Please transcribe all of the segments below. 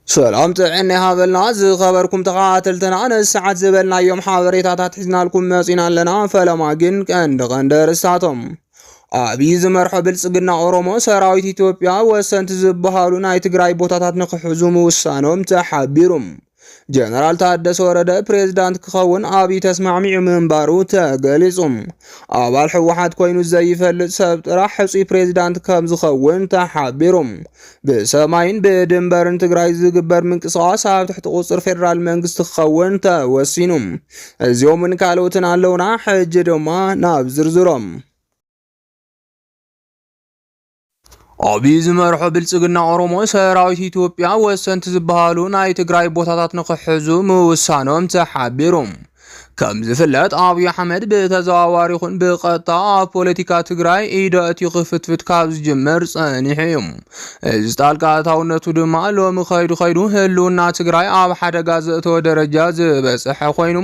ሰላም ጥዕና ይሃበልና ዝኸበርኩም ተኸታተልትና ነዚ ሰዓት ዝበልናዮም ሓበሬታታት ሒዝናልኩም መፂና ኣለና። ፈለማ ግን ቀንዲ ቀንዲ ርእስታቶም ኣብዪ ዝመርሖ ብልፅግና ኦሮሞ ሰራዊት ኢትዮጵያ ወሰንቲ ዝበሃሉ ናይ ትግራይ ቦታታት ንክሕዙ ምውሳኖም ተሓቢሩ። ጀነራል ታደሰ ወረደ ፕሬዝዳንት ክኸውን ኣብዪ ተስማዕሚዑ ምንባሩ ተገሊጹ። ኣባል ህወሓት ኮይኑ ዘይፈልጥ ሰብ ጥራሕ ሕፁይ ፕሬዝዳንት ከም ዝኸውን ተሓቢሩ። ብሰማይን ብድንበርን ትግራይ ዝግበር ምንቅስቓስ ኣብ ትሕቲ ቁፅር ፌዴራል መንግስቲ ክኸውን ተወሲኑ። እዚኦምን ካልኦትን ኣለውና። ሕጂ ድማ ናብ ዝርዝሮም ኣብይ ዝመርሖ ብልፅግና ኦሮሞ ሰራዊት ኢትዮጵያ ወሰንቲ ዝበሃሉ ናይ ትግራይ ቦታታት ንክሕዙ ምውሳኖም ተሓቢሩ። ከም ዝፍለጥ ኣብይ ኣሕመድ ብተዘዋዋሪ ይኹን ብቀጥታ ኣብ ፖለቲካ ትግራይ ኢደ እቲ ክፍትፍት ካብ ዝጅምር ጸኒሑ እዩ። እዚ ጣልቃ ኣታውነቱ ድማ ሎሚ ከይዱ ከይዱ ህልውና ትግራይ ኣብ ሓደጋ ዘእተወ ደረጃ ዝበጽሐ ኮይኑ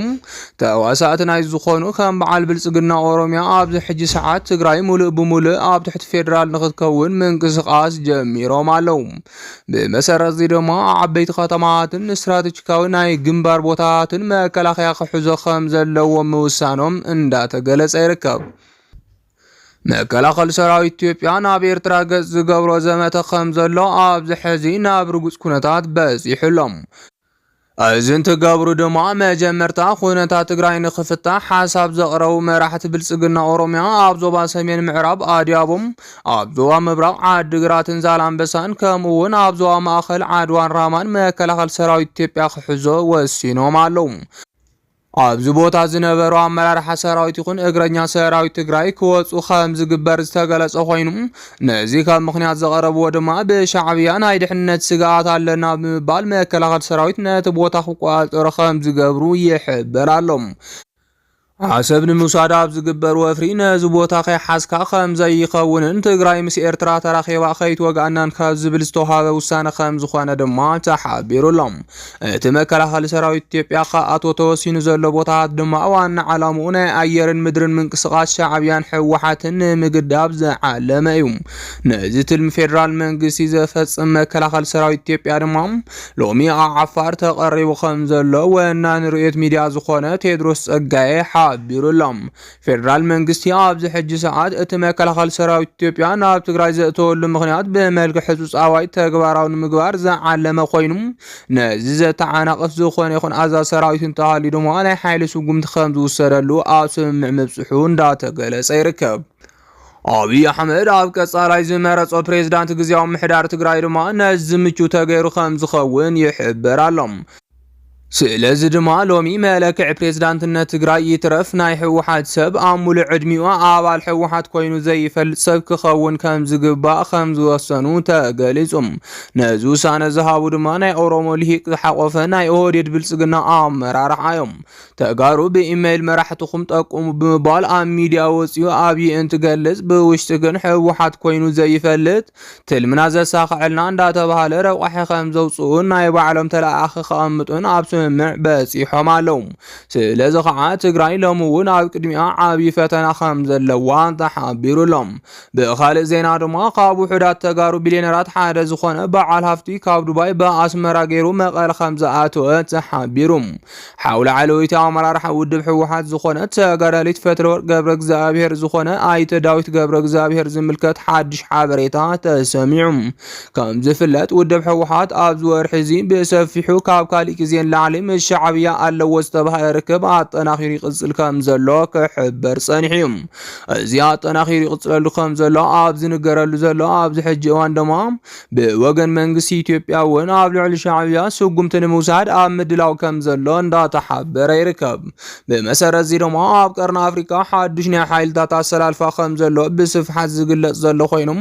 ተዋሳእቲ ናይ ዝኾኑ ከም በዓል ብልጽግና ኦሮሚያ ኣብዚ ሕጂ ሰዓት ትግራይ ሙሉእ ብሙሉእ ኣብ ትሕቲ ፌደራል ንክትከውን ምንቅስቃስ ጀሚሮም ኣለው። ብመሰረት እዚ ድማ ዓበይቲ ከተማታትን ስትራቴጂካዊ ናይ ግንባር ቦታታትን መከላኸያ ክሕዞ ከም ዘለዎ ምውሳኖም እንዳተገለጸ ይርከብ። መከላኸሊ ሰራዊት ኢትዮጵያ ናብ ኤርትራ ገጽ ዝገብሮ ዘመተ ከም ዘሎ ኣብዚ ሕዚ ናብ ርጉጽ ኩነታት በጺሑ ኣሎ። እዚ እንትገብሩ ድማ መጀመርታ ኩነታት ትግራይ ንክፍታሕ ሓሳብ ዘቕረቡ መራሕቲ ብልፅግና ኦሮሚያ ኣብ ዞባ ሰሜን ምዕራብ ኣድያቦም፣ ኣብ ዞባ ምብራቕ ዓዲግራትን ዛላምበሳን ከምኡ እውን ኣብ ዞባ ማእኸል ዓድዋን ራማን መከላኸል ሰራዊት ኢትዮጵያ ክሕዞ ወሲኖም ኣለዉ። ኣብዚ ቦታ ዝነበሩ ኣመራርሓ ሰራዊት ይኹን እግረኛ ሰራዊት ትግራይ ክወፁ ከም ዝግበር ዝተገለፀ ኮይኑ ነዚ ከም ምክንያት ዘቐረብዎ ድማ ብሻዕብያ ናይ ድሕንነት ስግኣት ኣለና ብምባል መከላኸል ሰራዊት ነቲ ቦታ ክቆፃፀሮ ከም ዝገብሩ ይሕበር ኣሎ። ዓሰብ ንምውሳድ ኣብ ዝግበር ወፍሪ ነዚ ቦታ ከይሓዝካ ከም ዘይኸውንን ትግራይ ምስ ኤርትራ ተራኺባ ከይትወግኣናን ካብ ዝብል ዝተዋሃበ ውሳነ ከም ዝኾነ ድማ ተሓቢሩሎም እቲ መከላኸሊ ሰራዊት ኢትዮጵያ ክኣትዎ ተወሲኑ ዘሎ ቦታታት ድማ ዋና ዓላምኡ ናይ ኣየርን ምድርን ምንቅስቓስ ሻዕብያን ህወሓትን ንምግዳብ ዝዓለመ እዩ። ነዚ ትልሚ ፌደራል መንግስቲ ዘፈፅም መከላኸሊ ሰራዊት ኢትዮጵያ ድማ ሎሚ ኣብ ዓፋር ተቐሪቡ ከምዘሎ ወናኒ ርእዮት ሚድያ ዝኾነ ቴድሮስ ፀጋዬ ሓቢሩሎም። ፌደራል መንግስቲ ኣብዚ ሕጂ ሰዓት እቲ መከላኸሊ ሰራዊት ኢትዮጵያ ናብ ትግራይ ዘእተወሉ ምኽንያት ብመልክዕ ህፁፅ ኣዋጅ ተግባራዊ ንምግባር ዝዓለመ ኮይኑ ነዚ ዘተዓናቕፍ ዝኾነ ይኹን ኣዛዚ ሰራዊት እንተሃልዩ ድማ ናይ ሓይሊ ስጉምቲ ከምዝውሰደሉ ኣብ ስምምዕ ምብፅሑ እንዳተገለፀ ይርከብ። ኣብይ ኣሕመድ ኣብ ቀጻላይ ዝመረጾ ፕሬዝዳንት ግዜያዊ ምሕዳር ትግራይ ድማ ነዚ ምቹው ተገይሩ ከም ዝኸውን ይሕበር ኣሎ። ስለዚ ድማ ሎሚ መለክዒ ፕሬዝዳንትነት ትግራይ ይትረፍ ናይ ህወሓት ሰብ ኣብ ሙሉእ ዕድሚኡ ኣባል ህወሓት ኮይኑ ዘይፈልጥ ሰብ ክኸውን ከምዝግባእ ከምዝወሰኑ ተገሊፁ። ነዚ ውሳነ ዝሃቡ ድማ ናይ ኦሮሞ ልሂቅ ዝሓቖፈ ናይ ኦህዴድ ብልፅግና ኣመራርሓ እዮም። ተጋሩ ብኢመይል መራሕትኹም ጠቁሙ ብምባል ኣብ ሚድያ ወፂኡ ኣብዪ እንትገልፅ ብውሽጢ ግን ህወሓት ኮይኑ ዘይፈልጥ ትልምና ዘሳኸዐልና እንዳተባሃለ ረቋሒ ከም ዘውፅኡን ናይ ባዕሎም ተለኣኣኺ ከቐምጡን ኣብ ስምምዕ በፂሖም ኣለው። ስለዚ ከዓ ትግራይ ሎሚ እውን ኣብ ቅድሚኣ ዓብዪ ፈተና ከም ዘለዋ ተሓቢሩ ኣሎ። ብኻልእ ዜና ድማ ካብ ውሑዳት ተጋሩ ቢሊዮነራት ሓደ ዝኾነ በዓል ሃፍቲ ካብ ዱባይ ብኣስመራ ገይሩ መቐለ ከም ዝኣተወ ተሓቢሩ። ሓው ላዕለወይቲ ኣመራርሓ ውድብ ህወሓት ዝኾነት ተጋዳሊት ፈትለወርቅ ገብረ እግዚኣብሔር ዝኾነ ኣይተ ዳዊት ገብረ እግዚኣብሔር ዝምልከት ሓድሽ ሓበሬታ ተሰሚዑ። ከም ዝፍለጥ ውድብ ህወሓት ኣብዚ ወርሒ እዚ ብሰፊሑ ካብ ካሊእ ግዜ ንላዕሊ ምስ ሻዕብያ ኣለዎ ዝተባሃለ ርክብ ኣጠናኺሩ ይቕፅል ከም ዘሎ ክሕበር ፀኒሑ እዩ። እዚ ኣጠናኺሩ ይቕፅለሉ ከም ዘሎ ኣብ ዝንገረሉ ዘሎ ኣብዚ ሕጂ እዋን ድማ ብወገን መንግስቲ ኢትዮጵያ እውን ኣብ ልዕሊ ሻዕብያ ስጉምቲ ንምውሳድ ኣብ ምድላው ከም ዘሎ እንዳተሓበረ ይርከብ። ብመሰረት እዚ ድማ ኣብ ቀርኒ ኣፍሪካ ሓዱሽ ናይ ሓይልታት ኣሰላልፋ ከም ዘሎ ብስፍሓት ዝግለጽ ዘሎ ኮይኑ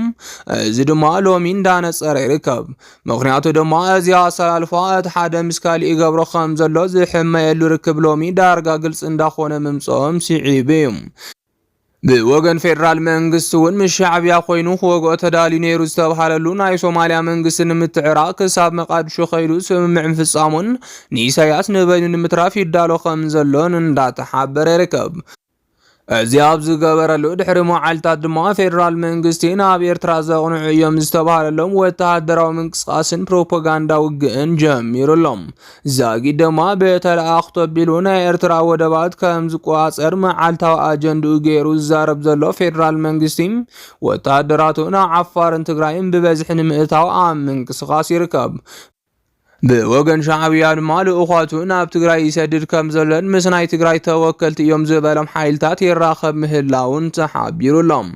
እዚ ድማ ሎሚ እንዳነጸረ ይርከብ። ምክንያቱ ድማ እዚ ኣሰላልፋ እቲ ሓደ ምስ ካሊእ ይገብሮ ከም ዘሎ ዝሕመየሉ ርክብ ሎሚ ዳርጋ ግልጺ እንዳኾነ ምምጽኦም ስዒቡ እዩ። ብወገን ፌደራል መንግስቲ እውን ምስ ሻዕቢያ ኮይኑ ክወግኦ ተዳልዩ ነይሩ ዝተብሃለሉ ናይ ሶማሊያ መንግስቲ ንምትዕራቕ ክሳብ መቃድሾ ከይዱ ስምምዕ ምፍጻሙን ንኢሳያስ ንበይኑ ንምትራፍ ይዳሎ ከም ዘሎን እንዳተሓበረ ይርከብ። እዚ ኣብ ዝገበረሉ ድሕሪ መዓልታት ድማ ፌደራል መንግስቲ ናብ ኤርትራ ዘቕንዑ እዮም ዝተብሃለሎም ወተሃደራዊ ምንቅስቓስን ፕሮፓጋንዳ ውግእን ጀሚሩ ኣሎ። ዛጊድማ ብተለኣኣኽቶ ኣቢሉ ናይ ኤርትራ ወደባት ከም ዝቆጻጸር መዓልታዊ ኣጀንድኡ ገይሩ ዝዛረብ ዘሎ ፌደራል መንግስቲ ወተሃደራቱ ናብ ዓፋርን ትግራይን ብበዝሒ ንምእታው ኣብ ምንቅስቓስ ይርከብ። ብወገን ሻዕብያ ድማ ልኡኻቱ ናብ ትግራይ ይሰድድ ከም ዘሎን ምስ ናይ ትግራይ ተወከልቲ እዮም ዝበሎም ሓይልታት ይራኸብ ምህላውን ተሓቢሩሎም።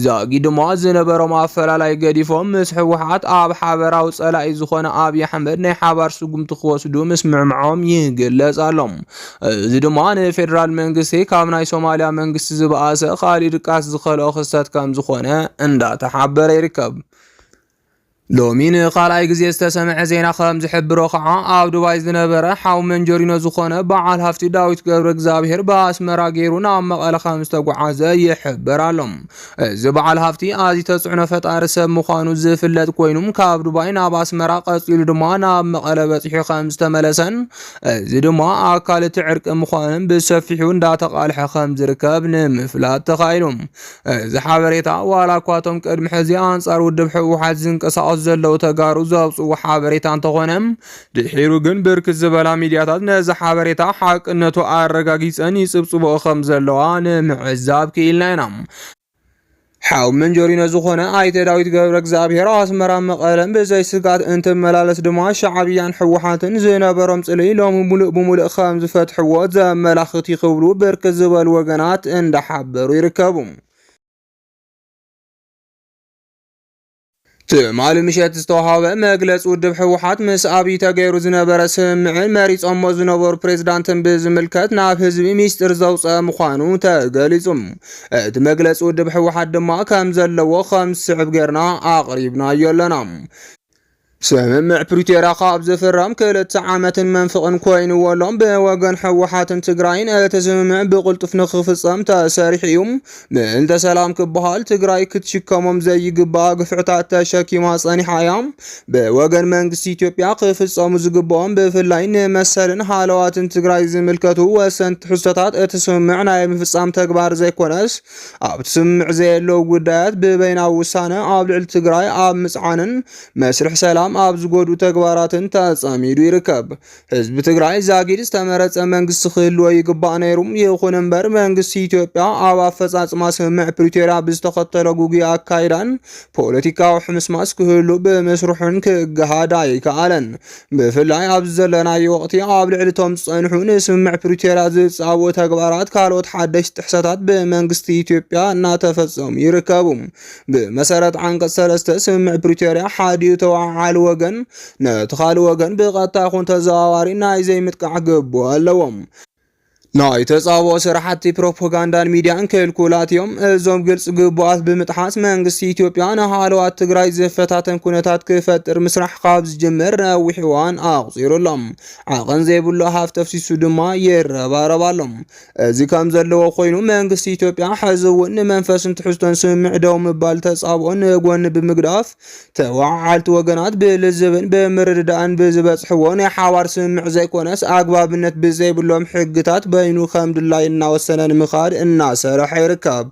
ዘጊድሞ ዝነበሮም ኣፈላላይ ገዲፎም ምስ ህወሓት ኣብ ሓበራዊ ጸላኢ ዝኾነ ኣብይ ኣሕመድ ናይ ሓባር ስጉምቲ ክወስዱ ምስምዕምዖም ይግለጽ ኣሎ። እዚ ድማ ንፌደራል መንግስቲ ካብ ናይ ሶማሊያ መንግስቲ ዝበኣሰ ካሊእ ድቃስ ዝኸልኦ ክስተት ከምዝኾነ እንዳተሓበረ ይርከብ። ሎሚ ንኻልኣይ ግዜ ዝተሰምዐ ዜና ከም ዝሕብሮ ከኣ ኣብ ዱባይ ዝነበረ ሓው መንጀሪኖ ዝኾነ በዓል ሃፍቲ ዳዊት ገብረእግዝኣብሄር ብኣስመራ ገይሩ ናብ መቐለ ከም ዝተጓዓዘ ይሕበር ኣሎ። እዚ በዓል ሃፍቲ ኣዝዩ ተጽዕኖ ፈጣሪ ሰብ ምዃኑ ዝፍለጥ ኮይኑ ካብ ዱባይ ናብ ኣስመራ ቀጺሉ ድማ ናብ መቐለ በጺሑ ከም ዝተመለሰን እዚ ድማ ኣካል እቲ ዕርቂ ምዃኑን ብሰፊሑ እንዳተቓልሐ ከም ዝርከብ ንምፍላጥ ተኻኢሉ። እዚ ሓበሬታ ዋላ እኳ እቶም ቅድሚ ሕዚ ኣንጻር ውድብ ህወሓት ዝንቀሳቐሱ ዘለዉ ተጋሩ ዘውፅዎ ሓበሬታ እንተኾነ ድሒሩ ግን ብርክት ዝበላ ሚዲያታት ነዚ ሓበሬታ ሓቅነቱ ኣረጋጊፀን ይፅብፅቦ ከም ዘለዋ ንምዕዛብ ክኢልና ኢና። ሓው መንጀሪኖ ዝኾነ ኣይተ ዳዊት ገብረ እግዚኣብሔር ኣስመራ መቐለን ብዘይ ስጋት እንትመላለስ ድማ ሻዕብያን ሕወሓትን ዝነበሮም ጽልይ ሎሚ ሙሉእ ብሙሉእ ከም ዝፈትሕዎ ዘመላኽት ይኽብሉ ብርክ ዝበሉ ወገናት እንዳሓ እናተሓበሩ ይርከቡ። ትማሊ ምሸት ዝተዋሃበ መግለፂ ውድብ ህወሓት ምስ ኣብይ ተገይሩ ዝነበረ ስምምዕን መሪፆሞ ዝነበሩ ፕሬዝዳንትን ብዝምልከት ናብ ህዝቢ ሚስጢር ዘውፀአ ምዃኑ ተገሊፁ። እቲ መግለፂ ውድብ ህወሓት ድማ ከም ዘለዎ ከም ዝስዕብ ገይርና ኣቕሪብናዮ ኣለና። ስምምዕ ፕሪቶርያ ካብ ዝፍረም ክልተ ዓመትን መንፍቕን ኮይንዎ ኣሎ። ብወገን ህወሓትን ትግራይን እቲ ስምምዕ ብቕልጡፍ ንክፍፀም ተሰሪሑ እዩ። ምእንተ ሰላም ክበሃል ትግራይ ክትሽከሞም ዘይግባኣ ግፍዕታት ተሸኪማ ጸኒሓ እያ። ብወገን መንግስቲ ኢትዮጵያ ክፍጸሙ ዝግብኦም ብፍላይ ንመሰልን ሃለዋትን ትግራይ ዝምልከቱ ወሰንቲ ትሕዝቶታት እቲ ስምምዕ ናይ ምፍጻም ተግባር ዘይኮነስ ኣብቲ ስምምዕ ዘየለዉ ጉዳያት ብበይናዊ ውሳነ ኣብ ልዕሊ ትግራይ ኣብ ምፅዓንን መስርሕ ሰላም ኣብ ዝጎድኡ ተግባራትን ተጸሚዱ ይርከብ። ህዝቢ ትግራይ ዛጊድ ዝተመረጸ መንግስቲ ክህልዎ ይግባእ ነይሩ። ይኹን እምበር መንግስቲ ኢትዮጵያ ኣብ ኣፈጻጽማ ስምምዕ ፕሪቶርያ ብዝተኸተሎ ጉጉይ ኣካይዳን ፖለቲካዊ ሕምስማስ ክህሉ ብምስርሑን ክገሃድ ኣይከኣለን። ብፍላይ ኣብዚ ዘለናዮ ወቕቲ ኣብ ልዕሊ እቶም ዝጸንሑ ንስምምዕ ፕሪቶርያ ዝጻቡ ተግባራት ካልኦት ሓደሽቲ ጥሕሰታት ብመንግስቲ ኢትዮጵያ እናተፈጸሙ ይርከቡ። ብመሰረት ዓንቀጽ ሰለስተ ስምምዕ ፕሪቶርያ ሓዲኡ ተወዓዓሊ ወገን ነቲ ካልእ ወገን ብቐጥታ ይኹን ተዘዋዋሪ ናይ ዘይምጥቃዕ ግቡእ ኣለዎም። ናይ ተጻብኦ ስራሕቲ ፕሮፓጋንዳን ሚድያን ክልኩላት እዮም። እዞም ግልፂ ግቡኣት ብምጥሓስ መንግስቲ ኢትዮጵያ ንሃለዋት ትግራይ ዝፈታተን ኩነታት ክፈጥር ምስራሕ ካብ ዝጅምር ነዊሕ እዋን ኣቑፂሩ ኣሎ። ዓቐን ዘይብሉ ሃፍቲ ኣፍሲሱ ድማ ይረባረብ ኣሎ። እዚ ከም ዘለዎ ኮይኑ መንግስቲ ኢትዮጵያ ሕዚ እውን ንመንፈስን ትሕዝቶን ስምምዕ ደው ምባል ተጻብኦ ንጎኒ ብምግዳፍ ተወዓዓልቲ ወገናት ብልዝብን ብምርድዳእን ብዝበጽሕዎ ናይ ሓባር ስምምዕ ዘይኮነስ ኣግባብነት ብዘይብሎም ሕግታት በይኑ ከም ድላይ እናወሰነ ንምኻድ እናሰርሐ ይርከብ።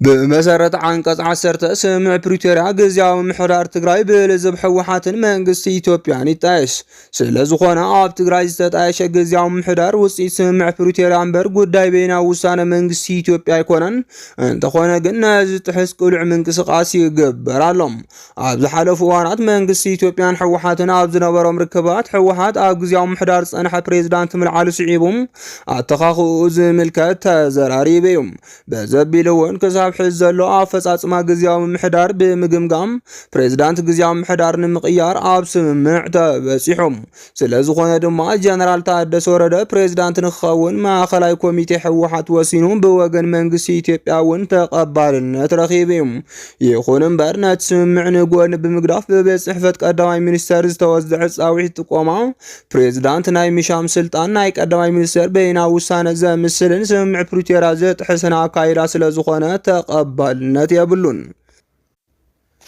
ብመሰረት ዓንቀጽ ዓሰርተ ስምምዕ ፕሪቶርያ ግዝያዊ ምምሕዳር ትግራይ ብልዝብ ህወሓትን መንግስቲ ኢትዮጵያን ይጣየስ። ስለዝኾነ ኣብ ትግራይ ዝተጣየሸ ግዝያዊ ምሕዳር ውፅኢት ስምምዕ ፕሪቶርያ እምበር ጉዳይ በይናዊ ውሳነ መንግስቲ ኢትዮጵያ ኣይኮነን። እንተኾነ ግን ነዚ ዝጥሕስ ቅሉዕ ምንቅስቓስ ይግበር ኣሎ። ኣብ ዝሓለፉ እዋናት መንግስቲ ኢትዮጵያን ህወሓትን ኣብ ዝነበሮም ርክባት ህወሓት ኣብ ግዝያዊ ምሕዳር ዝፀንሐ ፕሬዝዳንት ምልዓሉ ስዒቡ ኣተኻኽኡ ዝምልከት ተዘራሪቡ እዩ። በዘቢሉ እውን ክሳብ ሕዚ ዘሎ ኣፈፃፅማ ግዝያዊ ምምሕዳር ብምግምጋም ፕሬዝዳንት ግዝያዊ ምምሕዳር ንምቕያር ኣብ ስምምዕ ተበፂሑ። ስለዝኾነ ድማ ጀነራል ታደሰ ወረደ ፕሬዝዳንት ንክኸውን ማእኸላይ ኮሚቴ ህወሓት ወሲኑ ብወገን መንግስቲ ኢትዮጵያ እውን ተቐባልነት ረኺቡ እዩ። ይኹን እምበር ነቲ ስምምዕ ንጎኒ ብምግዳፍ ብቤት ፅሕፈት ቀዳማይ ሚኒስተር ዝተወዘዐ ፃዊዒት ጥቆማ ፕሬዝዳንት ናይ ምሻም ስልጣን ናይ ቀዳማይ ሚኒስትር በይና ውሳነ ዘምስልን ስምምዕ ፕሪቶርያ ዝጥሕስን ኣካይዳ ስለ ዝኾነ ተቐባልነት የብሉን።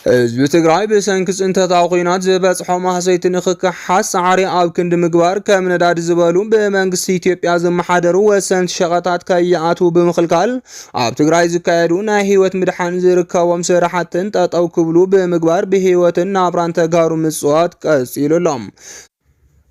ህዝቢ ትግራይ ብሰንኪ ፅንተታዊ ኩናት ዝበፅሖ ማህሰይቲ ንክከሓስ ፃዕሪ ኣብ ክንዲ ምግባር ከም ነዳዲ ዝበሉ ብመንግስቲ ኢትዮጵያ ዝመሓደሩ ወሰንቲ ሸቐጣት ከይኣትዉ ብምኽልካል ኣብ ትግራይ ዝካየዱ ናይ ህይወት ምድሓን ዝርከቦም ስራሕትን ጠጠው ክብሉ ብምግባር ብህይወትን ናብራን ተጋሩ ምፅዋት ቀፂሉ ኣሎ።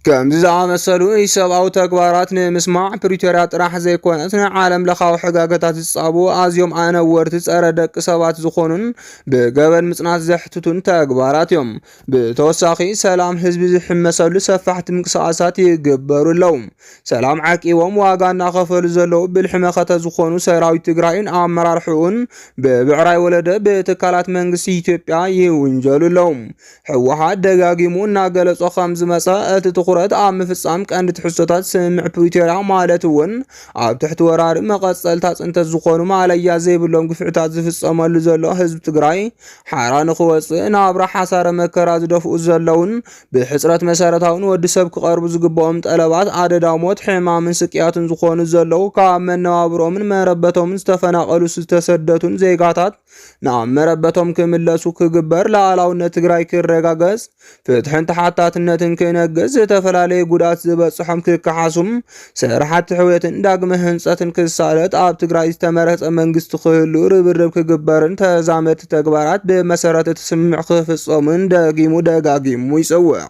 ከምዚ ዝኣመሰሉ ኢሰብኣዊ ተግባራት ንምስማዕ ፕሪቶርያ ጥራሕ ዘይኮነስ ንዓለም ለኻዊ ሕጋገታት ዝጻቡ ኣዝዮም ኣነወርቲ ጸረ ደቂ ሰባት ዝኾኑን ብገበን ምጽናት ዘሕትቱን ተግባራት እዮም። ብተወሳኺ ሰላም ህዝቢ ዝሕመሰሉ ሰፋሕቲ ምንቅስቓሳት ይግበሩ ኣለዉ። ሰላም ዓቂቦም ዋጋ እናኸፈሉ ዘለዉ ብልሒ መኸተ ዝኾኑ ሰራዊት ትግራይን ኣመራርሕኡን ብብዕራይ ወለደ ብትካላት መንግስቲ ኢትዮጵያ ይውንጀሉ ኣለዉ። ህወሓት ደጋጊሙ እናገለጾ ከም ዝመጸ እቲ ትኹረት ኣብ ምፍጻም ቀንዲ ትሕዝቶታት ስምምዕ ፕሪቶርያ ማለት እውን ኣብ ትሕቲ ወራሪ መቐጸልታ ጽንተት ዝኾኑ ማለያ ዘይብሎም ግፍዕታት ዝፍጸመሉ ዘሎ ህዝቢ ትግራይ ሓራ ንኽወጽእ ናብራ ሓሳረ መከራ ዝደፍኡ ዘለውን ብሕጽረት መሰረታዊ ንወዲ ሰብ ክቐርቡ ዝግብኦም ጠለባት ኣደዳ ሞት ሕማምን ስቅያትን ዝኾኑ ዘለዉ ካብ መነባብሮምን መረበቶምን ዝተፈናቐሉ ዝተሰደቱን ዜጋታት ናብ መረበቶም ክምለሱ ክግበር፣ ላዕላውነት ትግራይ ክረጋገጽ፣ ፍትሕን ተሓታትነትን ክነግስ፣ ዝተፈላለዩ ጉድኣት ዝበጽሖም ክከሓሱም፣ ስራሕቲ ሕውየትን ዳግመ ህንጸትን ክሳለጥ፣ ኣብ ትግራይ ዝተመረጸ መንግስቲ ክህሉ ርብርብ ክግበርን ተዛመድቲ ተግባራት ብመሰረት እቲ ስምምዕ ክፍጸሙን ደጊሙ ደጋጊሙ ይጽውዕ።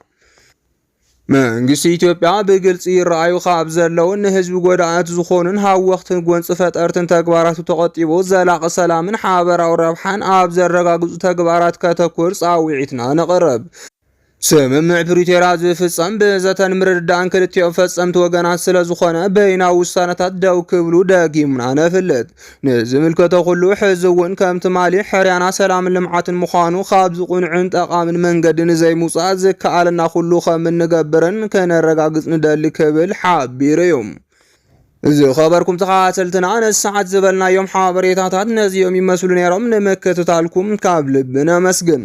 መንግስቲ ኢትዮጵያ ብግልፂ ይረኣዩ ካብ ዘለውን ንህዝቢ ጎዳእት ዝኾኑን ሃወኽትን ጎንፂ ፈጠርትን ተግባራቱ ተቆጢቡ ዘላቒ ሰላምን ሓበራዊ ረብሓን ኣብ ዘረጋግፁ ተግባራት ከተኩር ፃውዒትና ነቕርብ። ስምምዕ ፕሪቶርያ ዝፍፀም ብዘተን ምርድዳእን ክልቲኦም ፈፀምቲ ወገናት ስለዝኾነ በይናዊ ውሳነታት ደው ክብሉ ደጊምና ነፍልጥ። ንዝምልከቶ ኩሉ ሕዚ እውን ከም ትማሊ ሕርያና ሰላምን ልምዓትን ምዃኑ ካብዚ ቁኑዕን ጠቓምን መንገዲ ንዘይምውፃእ ዝከኣለና ኩሉ ከም እንገብርን ከነረጋግፅ ንደሊ ክብል ሓቢሩ እዩ። ዝኸበርኩም ተኸታተልትና ነዚ ሰዓት ዝበልናዮም ሓበሬታታት ነዚኦም ይመስሉ ነይሮም። ንምክትታልኩም ካብ ልቢ ነመስግን።